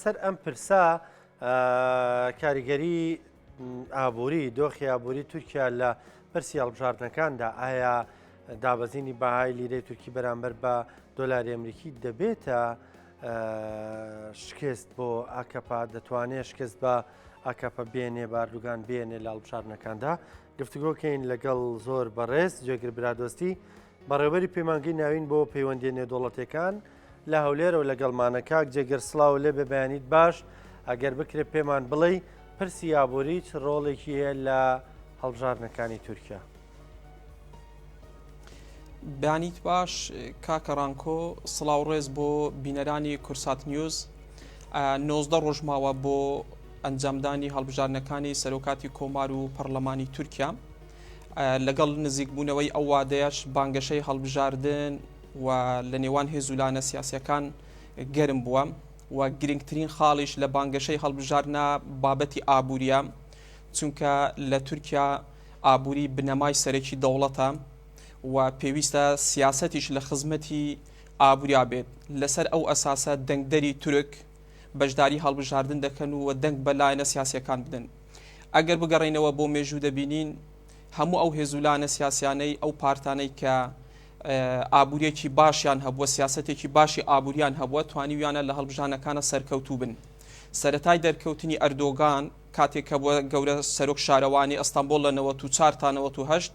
سەر ئەم پرسە کاریگەری ئابووری دۆخی ئابووری تورکیا لە پرسی هەڵبژاردنەکاندا ئایا دابەزینی بەهای لیرەی تورکی بەرامبەر بە دۆلاری ئەمریکی دەبێتە شکست بۆ ئاکەپا دەتوانێت شکست بە ئاکەپە بێنێ باردوگان بێنێ لە هەڵبژاردنەکاندا گفتوگۆکەین لەگەڵ زۆر بەڕێز جێگر برادۆستی بەڕێوەبەری پەیمانگەی ناوین بۆ پەیوەندیە نێودەوڵەتیەکان لە هەولێرەوە لەگەڵمانە کاک جێگر سڵاو لێ بێ بەیانیت باش ئەگەر بکرێت پێمان بڵێ پرسی ئابووری چ ڕۆڵێکی هەیە لە هەڵبژاردنەکانی تورکیا بەیانیت باش کاکە ڕانکۆ سڵاو ڕێز بۆ بینەرانی کورسات نیوز نۆزدە ڕۆژماوە بۆ ئەنجامدانی هەڵبژارنەکانی سەرۆکاتی کۆمار و پەرلەمانی تورکیا لەگەڵ نزیکبوونەوەی ئەو وادەیەش بانگەشەی هەڵبژاردن و لە نێوان هێز و لانە سیاسەکان گەرم بووە و گرنگترین خاڵیش لە بانگەشەی هەڵبژاردنە بابەتی ئابووریە چونکە لە تورکیا ئابووری بنەمای سەرەکی دەوڵەتە و پێویستە سیاسەتیش لە خزمەتی ئابووریا بێت لەسەر ئەو ئەساسە دەنگدەری تورک بەشداری هەڵبژاردن دەکەن و دەنگ بە لایەنە سیاسەکان بدەن. ئەگەر بگەڕێینەوە بۆ مێژوو دەبینین هەموو ئەو هێزولانە سیاسیانەی ئەو پارتانەی کە ئابووریەکی باشیان هەبووە سیاستێکی باشی ئابووریان هەبووە توانیویانە لە هەڵبژانەکانە سەرکەوتوو بن سەتای دەرکەوتنی ئەردۆگان کاتێک کە بۆ گەورە سەرۆک شارەوانی ئەستەمبۆل لە 94 تا 1970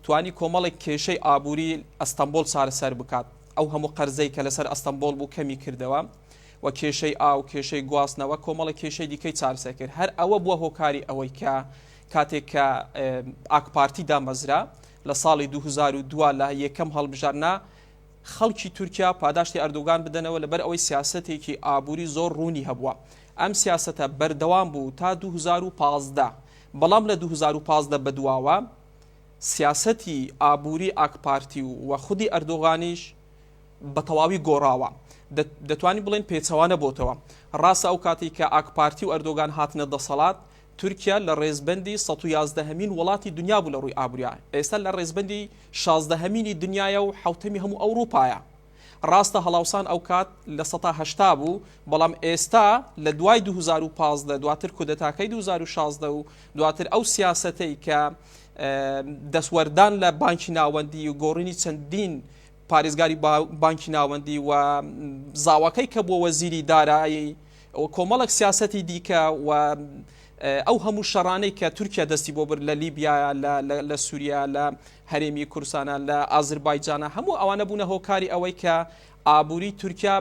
توانی کۆمەڵێک کێشەی ئابووری ئەستەمبۆل چارەسەر بکات ئەو هەموو قەرزەی کە لەسەر ئەستەمبۆل بوو کەمی کردەوە و کێشەی ئاو، کێشەی گواستنەوە، کۆمەڵێک کێشەی دیکەی چارەسەر کرد. هەر ئەوە بووە هۆکاری ئەوەی کە کاتێک کە ئاکپارتی دامەزرا لە ساڵی دوو هەزار و دو لە یەکەم هەڵبژاردنا خەڵکی تورکیا پاداشتی ئەردۆگان بدەنەوە لەبەر ئەوەی سیاسەتێکی ئابووری زۆر ڕوونی هەبووە. ئەم سیاسەتە بەردەوام بوو تا دوو هەزار و پازدە، بەڵام لە دوو هەزار و پازدە بەدواوە سیاسەتی ئابووری ئاکپارتی و خودی ئەردۆغانیش بە تەواوی گۆڕاوە، دەتوانین بڵێین پێچەوانە بۆتەوە. ڕاستە ئەو کاتەی کە ئاکپارتی و ئەردۆگان هاتنە دەسەڵات، تورکیا لە ڕێزبەندی سەد و یازدە هەمین وڵاتی دنیا بوو لە ڕووی ئابووریا، ئێستا لە ڕێزبەندی شازدە هەمینی دنیایە و حەوتەمی هەموو ئەوڕوپایە. ڕاستە هەڵاوسان ئەو کات لە سەتا هەشتا بوو، بەڵام ئێستا لە دوای دوو هەزار و پازدە، دواتر کودەتاکەی دوو هەزار و شازدە و دواتر ئەو سیاسەتەی کە دەستوەردان لە بانکی ناوەندی و گۆڕینی چەندین پارێزگاری بانکی ناوەندی و زاواکەی کە بووە وەزیری دارایی و کۆمەڵک سیاسەتی دیکە و ئەو هەموو شەڕانەی کە تورکیا دەستی بۆ برد لە لیبیا لە سووریا لە هەرێمی کورسانە لە ئازربایجانە هەموو ئەوانە بوونە هۆکاری ئەوەی کە ئابووری تورکیا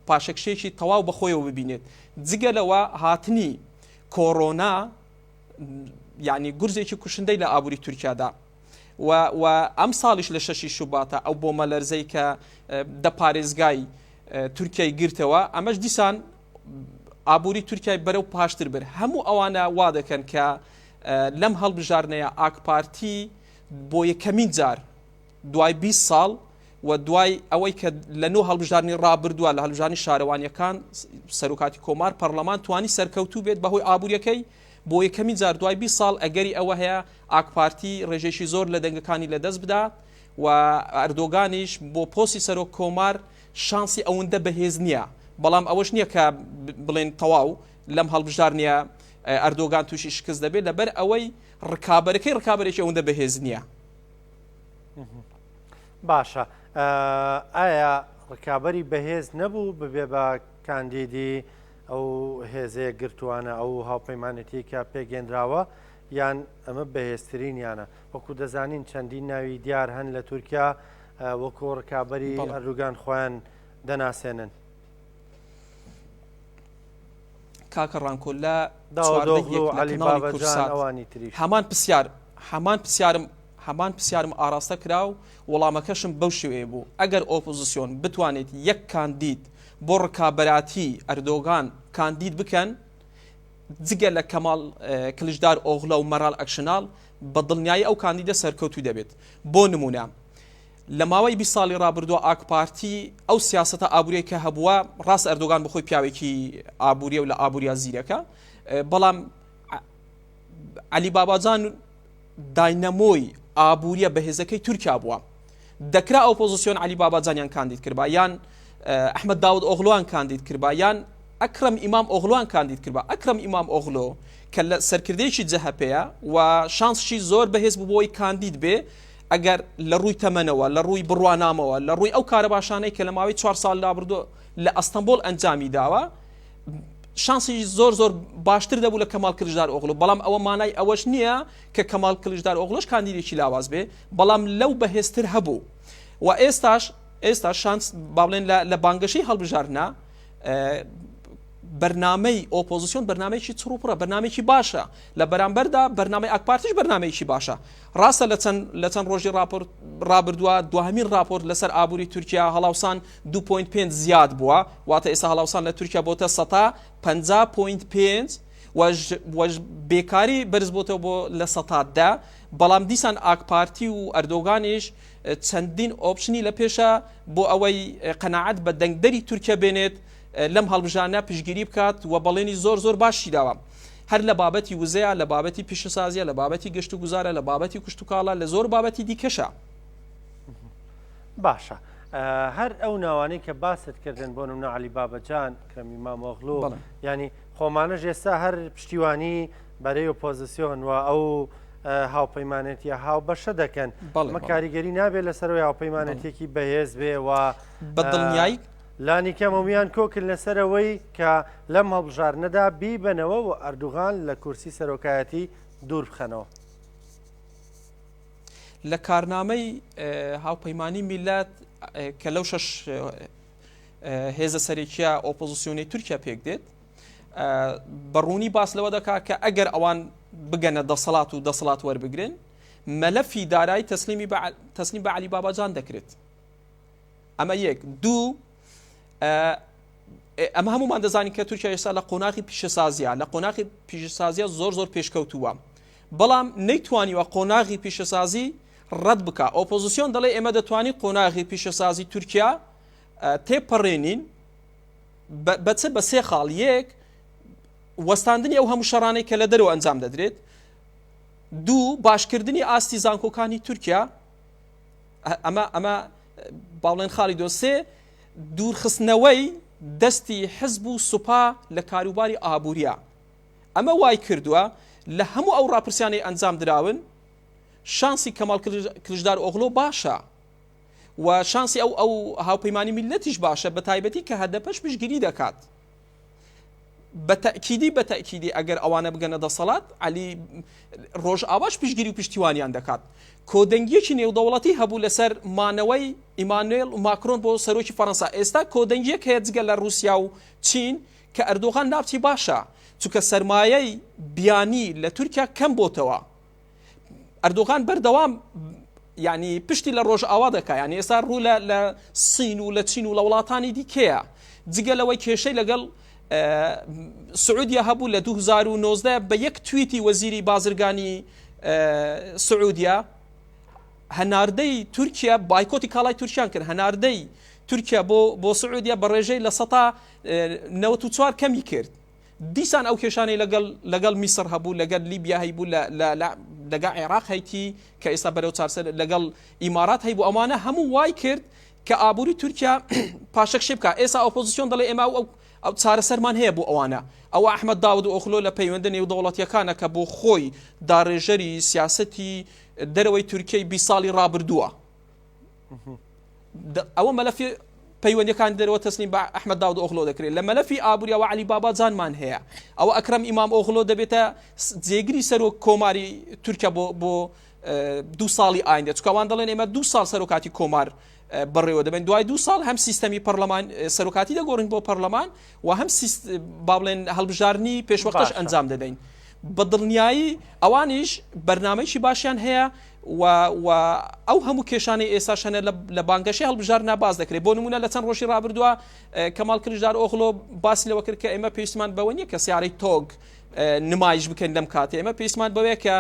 پاشەکشێکی تەواو بەخۆیەوە ببینێت جگە لەوە هاتنی کۆرۆنا یعنی گورزێکی کوشندەی لە ئابووری تورکیادا و و ئەمساڵیش لە شەشی شوباتا ئەو بۆمەلەرزەی کە دە پارێزگای تورکیای گرتەوە ئەمەش دیسان ئابووری تورکای بەرەو پاشتر بر هەموو ئەوانە وا دەکەن کە لەم هەڵبژاردنەیە ئاکپارتی بۆ یەکەمین جار دوای 20 ساڵ و دوای ئەوەی کە لە نۆ هەڵبژارنی ڕابردووە لە هەلژانی شارەوانیەکان سەرۆکاتی کۆمار پەرلەمان توانی سەرکەوتوو بێت بەهۆی ئابوووریەکەی بۆ یەکەمین جار دوای بیست ساڵ ئەگەری ئەوە هەیە ئاکپارتی ڕێژەیەکی زۆر لە دەنگەکانی لەدەست بدات و ئەردۆگانیش بۆ پۆستی سەرۆک کۆمار شانسی ئەوەندە بەهێز نییە بەڵام ئەوەش نییە کە بڵێن تەواو لەم هەڵبژار نییە ئەردۆگان تووشی شکست دەبێت لەبەر ئەوەی ڕکابەرەکەی ڕکابەرێکی ئەوەندە بەهێز نییە باشە ئایا ڕکابەری بەهێز نەبوو ببێ بە کاندیدی ئەو هێزە یەکگرتووانە، ئەو هاوپەیمانێتییەی کە پێکهێنراوە، یان ئەمە بەهێزترینیانە؟ وەکو دەزانین چەندین ناوی دیار هەن لە تورکیا وەکو ڕکابەری ئەردوگان خۆیان دەناسێنن. کاکە ڕانکۆ لە چواردەگی یەک لە کەناڵی کورسات هەمان پرسیارم هەمان پرسیارم ئاراستە کرا و وەڵامەکەشم بەو شێوەیە بوو، ئەگەر ئۆپۆزسیۆن بتوانێت یەک کاندید بۆ ڕکابەراتی ئەردۆگان کاندید بکەن، جگە لە کەماڵ کلچدار ئۆغلۆ و مەرال ئەکشناڵ، بە دڵنیایی ئەو کاندیدە سەرکەوتوو دەبێت. بۆ نموونە لە ماوەی بیست ساڵی ڕابردووە ئاکپارتی ئەو سیاسەتە ئابووریەی کە هەبووە، ڕاستە ئەردۆگان بەخۆی پیاوێکی ئابووریە و لە ئابووریا زیرەکە، بەڵام عەلی باباجان، داینەمۆی ئابووریە بەهێزەکەی تورکیا بووە، دەکرا ئۆپۆزسیۆن عەلی باباجانیان کاندید کربا یان ئەحمەد داود ئۆغلۆیان کاندید کربا یان ئەکرەم ئیمام ئۆغلۆیان کاندید کربا، ئەکرەم ئیمام ئۆغلۆ کە لە سەرکردەیەکی جەهەپەیە و شانسشی زۆر بەهێز بوو بۆی کاندید بێ، ئەگەر لە ڕووی تەمەنەوە، لە ڕووی بڕوانامەوە، لە ڕووی ئەو کارە باشانەی کە لە ماوەی چوار ساڵی لابردوو لە ئەستەنبۆڵ ئەنجامی داوە، شانسی زۆر زۆر باشتر دەبوو لە کەمال کلژدار ئۆغلو بەڵام ئەوە مانای ئەوەش نییە کە کەمال کلژدار ئۆغلۆش کاندیدێکی لاواز بێ بەڵام لەو بەهێزتر هەبوو و ئێستاش ئێستا شانس باڵێن لە بانگەشەی هەڵبژارنا بەرنمەی ئۆپۆزیسیۆن بەرنمێکی چڕوپڕە بەنامێکی باشە لە بەرامبەردا بەرنمەی ئەکپارتیش بەرنمێکی باشە ڕاستە لە چەند لە چەند ڕۆژی راپۆرت ڕابردووە دوهمین راپۆرت لەسەر ئابووری تورکیا هەڵاوسان دوو پۆینت پێنج زیاد بووە، واتە ئێستا هەڵاوسان لە تورکیا بۆتە سەتا پەنجا پۆینت پێنج و بێکاری بەرزبووەوە بۆ لە سەتا دە، بەڵام دیسان ئاکپارتی و ئەردۆگانیش چەندین ئۆپشنی لە پێشە بۆ ئەوەی قەنەعەت بە دەنگدەری تورکیا بێنێت لەم هەڵبژانە پشگیری بکات و بەڵێنی زۆر زۆر باشی داوە هەر لە بابەتی وزەیە لە بابەتی پیشەسازیە لە بابەتی گەشت و گوزارە لە بابەتی کوشتتوکاڵە لە زۆر بابەتی دیکەشە باشە هەر ئەو ناوانەی کە باست کردن بۆ نمونە علی بابەجان کەمی مامۆغلو ینی خۆمانە ژێستا هەر پشتیوانی بەرەی ئۆپۆزیسیۆن و ئەو هاوپەیمانێتی هاو بەشە دەکەن بەڵمە کاریگەری نابێت لەسەرەوەی هاوپەیمانەتێکی بەهێز بێ و بەدڵنیایی لانی کەمەویان کۆکل لەسەرەوەی کە لەم هەڵبژار نەدا بیبەنەوە و ئەردوغان لە کورسی سەرۆکایەتی دوور بخەنەوە. لە کارنامەی هاوپەیمانی میللەت کە لەو شەش هێزە سەرێکیە ئۆپۆزیسیۆنی تورکیا پێک دێت بەڕوونی باس لەوە دەکا کە ئەگەر ئەوان بگەنە دەسەڵات و دەسەڵات وەربگرن مەلەفی دارایی تەسلیمی تەسلیم بە علی باباجان دەکرێت ئەمە یەک دوو ئەمە هەمومان دەزانین کە تورکیا ئێستا لە قۆناغی پیشەسازیە لە قۆناغی پیشسازیە زۆر زۆر پێشکەوتووە بەڵام نەیتوانیوە قۆناغی پیشەسازی ڕەت بکا. ئۆپۆزسیۆن دەڵێ ئێمە دەتوانین قۆناغی پیشەسازی تورکیا تێپەڕێنین بە چ بە سێ خاڵ یەک وەستاندنی ئەو هەموو شەڕانەی کە لە دەرەوە ئەنجام دەدرێت دوو باشکردنی ئاستی زانکۆکانی تورکیا ئەمە ئەمە باڵێن خاڵی دۆسێ دوورخستنەوەی دەستی حزب و سوپا لە کاروباری ئابووریا ئەمە وایکردووە لە هەموو ئەو ڕاپرسیانەی ئەنجام دراون شانسی کەماڵ کلجدار ئۆغلۆ باشە و شانسی ئەو ئەو هاوپەیمانی میلەتیش باشە بە تایبەتی کە هەدەپەش پشگیری دەکات بە تەکیدی بە تەکیدی ئەگەر ئەوانە بگەنە دەسەڵات علی ڕۆژ ئاواش پشگیری و پشتیوانیان دەکات کۆدەنگیەکی نێودەوڵەتی هەبوو لەسەر مانەوەی ئیمانوێل و ماکرۆن بۆ سەرۆکی فەەنسا ئێستا کۆدەنگیەک هەیە جگە لە رووسیا و چین کە ئەردۆغان ناوچی باشە چونکە سەرمایەی بیانی لە تورکیا کەم بۆتەوە ئەردۆغان بەردەوام یعنی پشتی لە ڕۆژئاوا دەکا یعنی ئێستا ڕوو لە لە سین و لە چین و لە وڵاتانی دیکەیە جگە لەوەی کێشەی لەگەڵ سعودیە هەبوو لە 2009 بە یەک تویتی وەزیری بازرگانی سعودیە هەناردەی تورکیا بایکۆتی کاڵای تورکیان کرد هەناردەی تورکیا بۆ بۆ سعودیە بە ڕێژەی لە سەتا نەوەت و چوار کەمی کرد دیسان ئەو کێشانەی لەگەڵ لەگەڵ میسر هەبوو لەگەر لیبیا هەیبوو لەگە عێراق هەیتی کە ئێستا بەرەو چارسەر لەگەڵ ئیمارات هەیبوو ئەوانە هەموو وای کرد کە ئابووری تورکیا پاشەک شێبکە ئێستا ئۆپۆزیسیۆن دەڵێ ئێمە ئەو ئەو چارەسەرمان هەیە بۆ ئەوانە ئەو ئەحمد داود و ئۆخلۆ لە پەیوەندە نێودەوڵەتیەکانە کە بۆ خۆی داڕێژەری سیاستی دەرەوەی تورکیای بی ساڵی رابردووە ئەوە مەلەفی پەیوەندەکان دەرەوە تەسلیم بە ئەحمد داود ئۆغلۆ دەکرێت لە مەلەفی ئابووریەوە علی بابا جانمان هەیە ئەوە ئەکرم ئیمام ئۆغلۆ دەبێتە جێگری سەرۆک کۆماری تورکیا بۆ بۆ دو ساڵی ئایندە چکوان دەڵێن ئێمە دو ساڵ سەرۆکاتی کۆمار بڕێوە دەبن دوای دو ساڵ هەم سیستەمی پەرلەمان سەرۆکاتی دەگۆڕین بۆ پەرلەمان و هەم با بڵێن هەڵبژارنی پێشوەختش ئەنجام دەدەین بە دڵنیایی ئەوانیش بەرنمەیەکی باشیان هەیە و و ئەو هەموو کێشانەی ئێساش هەنە لە بانگەشەی هەڵبژاردنا باس دەکرێت بۆ نمونە لە چەند ڕۆژی ڕابردووە کەماڵ کلژدار ئۆغلۆ باسی لەوە کرد کە ئێمە پێویستمان بەوە نییە کە سیارەی تۆگ نمایش بکەین لەم کاتێ ئێمە پێویستمان بەوەیە کە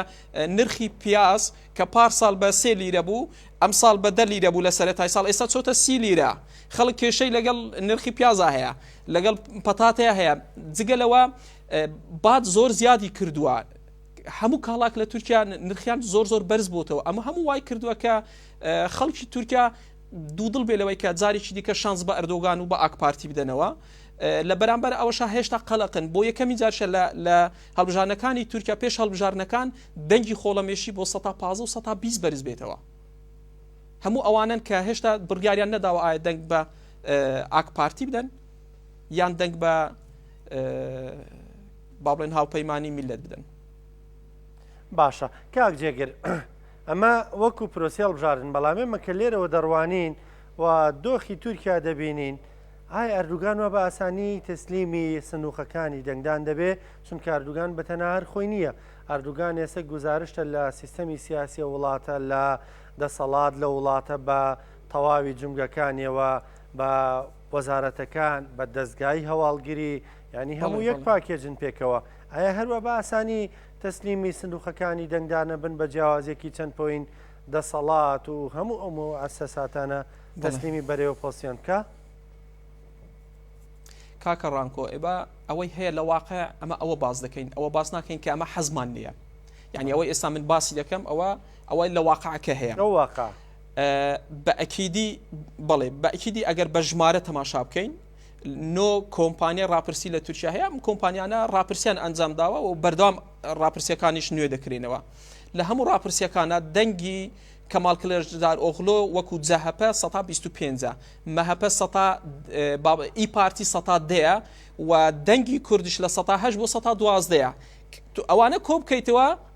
نرخی پیاز کە پار ساڵ بە سێ لیرە بوو ئەم ساڵ بە دە لیرە بوو لە سەرەتای ساڵ ئێستا چۆتە سی لیرە خەڵک کێشەی لەگەڵ نرخی پیازا هەیە لەگەڵ پەتاتەیە هەیە جگە لەوە باد زۆر زیادی کردووە هەموو کاڵاک لە تورکیا نرخیان زۆر زۆر بەرز بووتەوە ئەمە هەموو وای کردووە کە خەڵکی تورکیا دوودڵ بێ لەوەی کە جارێکی دیکە شانس بە ئەردۆگان و بە ئاکپارتی بدەنەوە لە بەرامبەر ئەوەشا هێشتا قەلقن بۆ یەکەمی جارشە لە هەڵبژارنەکانی تورکیا پێش هەڵبژارنەکان دەنگی خۆڵەمێشی بۆ 1920 بەرز بێتەوە هەموو ئەوانن کە هێشتا بڕیاریان نەداوە ئایا دەنگ بە ئاکپارتی بدەن یان دەنگ بە با بڵێن هاوپەیمانی میللەت بدەن. باشە کاک جێگر ئەمە وەکو پرۆسەی هەڵبژاردن بەڵام ئێمە کە لێرەوە دەڕوانین و دۆخی تورکیا دەبینین ئایا ئەردوگان وە بە ئاسانی تەسلیمی سنووقەکانی دەنگدان دەبێ چون کاردوگان بە تەناهر خۆی نییە ئەردوگان ئێستا گوزارشتە لە سیستەمی سیاسی وڵاتە لە دەسەڵات لە وڵاتە بە تەواوی جومگەکانیەوە بە وەزارەتەکان بە دەزگای هەواڵگری یانی هەموو یەک پاکێجن پێکەوە ئایا هەروە بە ئاسانی تەسلیمی سندوقەکانی دەنگدانە بن بە جیاوازیەکی چەند پۆین دەسەڵات و هەموو ئەو مۆعسە ساتانە تەسلیمی بەرەوە پۆسیان بکە؟ کاکە ڕانکۆ ئێبا ئەوەی هەیە لە واقع ئەمە ئەوە باز دەکەین ئەوە باز ناکەین کە ئەمە حەزمان نیە یعنی ئەوە ئێستا من باسی دەکەم ئەوە ئەوەی لە واقعەکە هەیە واقع بە ئەکیدی بەڵێ بە ئەکیدی ئەگەر بە ژمارە تەماشا بکەین نۆ کۆمپانیای راپرسی لە تورکیا هەیە ئەم کۆمپانیانە راپرسیان ئەنجام داوە و بەردەوام راپرسیەکانیش نوێ دەکرێنەوە لە هەموو راپرسیەکانە دەنگی کەمال کلێژدار ئۆغلۆ وەکو جەهپە 125 مەهپە ئی پارتی سەتا دەیە و دەنگی کوردش لە سەهش بۆ سە دوازدەیە ئەوانە کۆ بکەیتەوە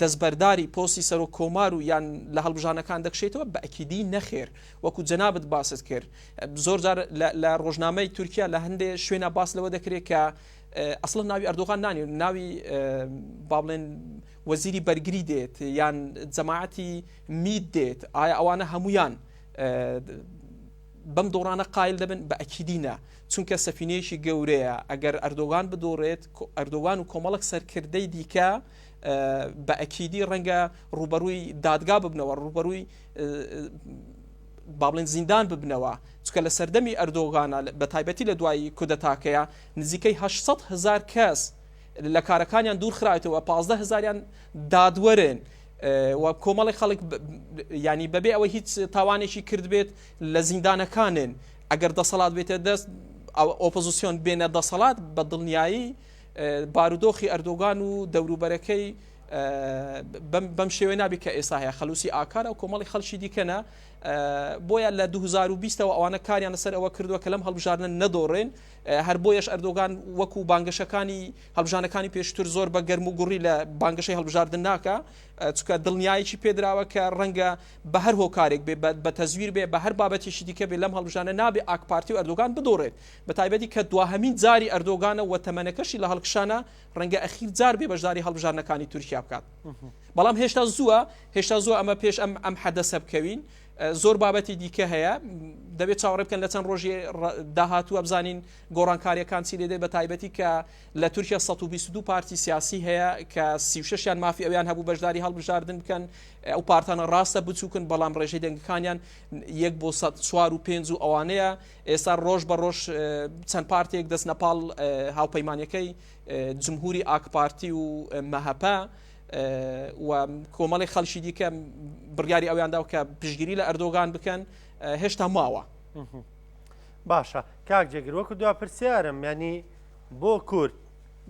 دەستبەرداری پۆستی سەرۆک کۆمار و یان لە هەڵبژانەکان دەکشێتەوە؟ بە ئەکیدی نەخێر، وەکو جەنابت باست کرد زۆر جار لە ڕۆژنامەی تورکیا لە هەندێ شوێنا باس لەوە دەکرێت کە ئەسڵەن ناوی ئەردۆغان نانی و ناوی بابلێن وەزیری بەرگری دێت یان جەماعەتی مید دێت ئایا ئەوانە هەمویان بەم دۆڕانە قایل دەبن بە ئەکیدینە چونکە سەفینەیەکی گەورەیە ئەگەر ئەردۆگان بدۆڕێت ئەردۆگان و کۆمەڵک سەرکردەی دیکە بە ئەکیدی ڕەنگە ڕوبەرووی دادگا ببنەوە ڕوبەرووی بابلێن زیندان ببنەوە چکە لە سەردەمی ئەردۆغانە بە تایبەتی لە دوایی کودەتاکەیە نزیکەی 600 هزار کەس لە کارەکانیان دوور خراوەتەوە 15 هزاریان دادوەرن و کۆمەڵی خەڵک ینی بەبێ ئەوە هیچ تاوانێکی کردبێت لە زیندانەکانن ئەگەر دەسەڵات بێتە دەست ئۆپۆزیسیۆن بێنە دەسەڵات بە دڵنیایی بارودۆخی ئەردۆگان و دەوروبەرەکەی بەم شێوەی نابی کە ئێستا هەیە خەلوسی ئاکارە و کۆمەڵی خەلکی دیکەە بۆیە لە 2020ەوە ئەوانە کاریان لەسەر ئەوە کردووە کە لەم هەڵبژارنە نەدۆڕێن هەر بۆیەش ئەردۆگان وەکو بانگەشەکانی هەڵبژانەکانی پێشتر زۆر بە گەرم و گوڕی لە بانگەشەی هەڵبژاردن ناکە چکە دڵنیایکی پێدراوە کە ڕەنگە بە هەر هۆکارێک بێ بە تەزویر بێ بە هەر بابەتێکی دیکە بێ لەم هەڵبژانە نابێ ئاکپارتی و ئەردۆگان بدۆڕێت بەتایبەتی کە دواهەمین جاری ئەردۆگانە و تەمەنەکەشی لە هەڵکشانە، ڕەنگە ئەخیر جار بێ بەشداری هەڵبژاردنەکانی تورکیا بکات. بەڵام هێشتا زووە، هێشتا زووە ئەمە پێش ئەم ئەم حەدەسە بکەوین. زۆر بابەتی دیکە هەیە دەبێت چاوەڕێ بکەن لە چەند ڕۆژی داهاتووە بزانین گۆڕانکاریەکان چی لێدێ بە تایبەتی کە لە تورکیا 122 پارتی سیاسی هەیە کە سیشیان مافی ئەویان هەبوو بەشداری هەڵبژاردن بکەن ئەو پارتانە ڕاستە بچووکن بەڵام ڕێژەی دەنگەکانیان یەک بۆ 4 و پێنج و ئەوانەیە ئێستا ڕۆژ بە ڕۆژ چەند پارتێک دەستنە پاڵ هاوپەیمانەکەی جمهوری ئاکپارتی و مەهەپە و کۆمەڵی خەلکی دیکە بڕیاری ئەویاندا کە پشگیری لە ئەردۆگان بکەن هێشتا ماوە باشە کاک جێگر وەکو دو پرسیارم ینی بۆ کورد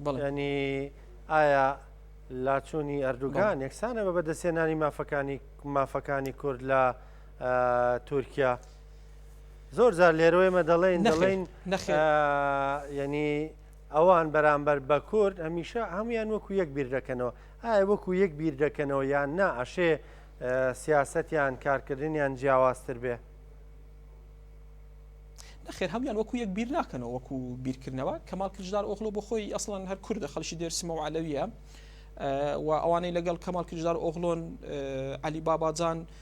بڵێنی ئایا لاچوونی ئەردوگان یەکسانە بە بەدەسێنانی مافەکانی مافەکانی کورد لە تورکیا زۆر جار لێرۆێمە دەڵێن دەڵێن یعنی ئەوان بەرامبەر بە کورد هەمیشە هەمویان وەکو یەک بیر دەکەنەوە ئایا وەکو یەک بیر دەکەنەوە یان نا ئەشێ سیاستیان کارکردنیان جیاوازتر بێ نەخێر هەموان وەکو یەک بیر ناکەنەوە وەکو بیرکردنەوە کەمال کردار ئۆخلۆ بۆ خۆی ئەسڵەن هەر کوردە خەڵکی دێرسمە و علەویە و ئەوانەی لەگەڵ کەمال کردار ئۆغلۆن علی باباجان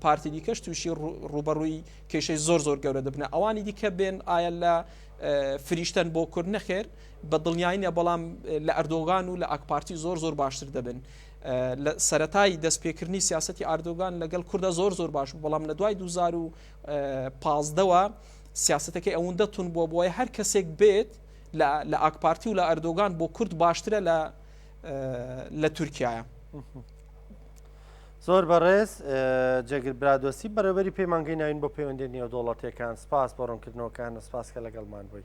پارتی دیکەش تووشی ڕوبەڕووی کێشەی زۆر زۆر گەورە دەبنە ئەوانی دیکە بێن ئایا لە فریشتن بۆ کورد نەخێر بە دڵنیاییە بەڵام لە ئەردۆگان و لە ئاکپارتی زۆر زۆر باشتر دەبن لە سەتایی دەستپێکردنی سیاستی ئاردۆگان لەگەڵ کووردە زۆر زۆر باش بەڵام لە دوای 2015ەوە سیاستەکەی ئەوەندە تون بووە بۆی هەر کەسێک بێت لە ئاکپارتی و لە ئەردۆگان بۆ کورد باشترە لە لە تورکایە. زۆر بەڕێز جێگر برادۆستی بەڕێوەری پەیمانگەی ناوین بۆ پەیوەندی نێودەوڵەتیەکان سپاس بۆ ڕوونکردنەوەکانە سپاس کە لەگەڵمان بووی.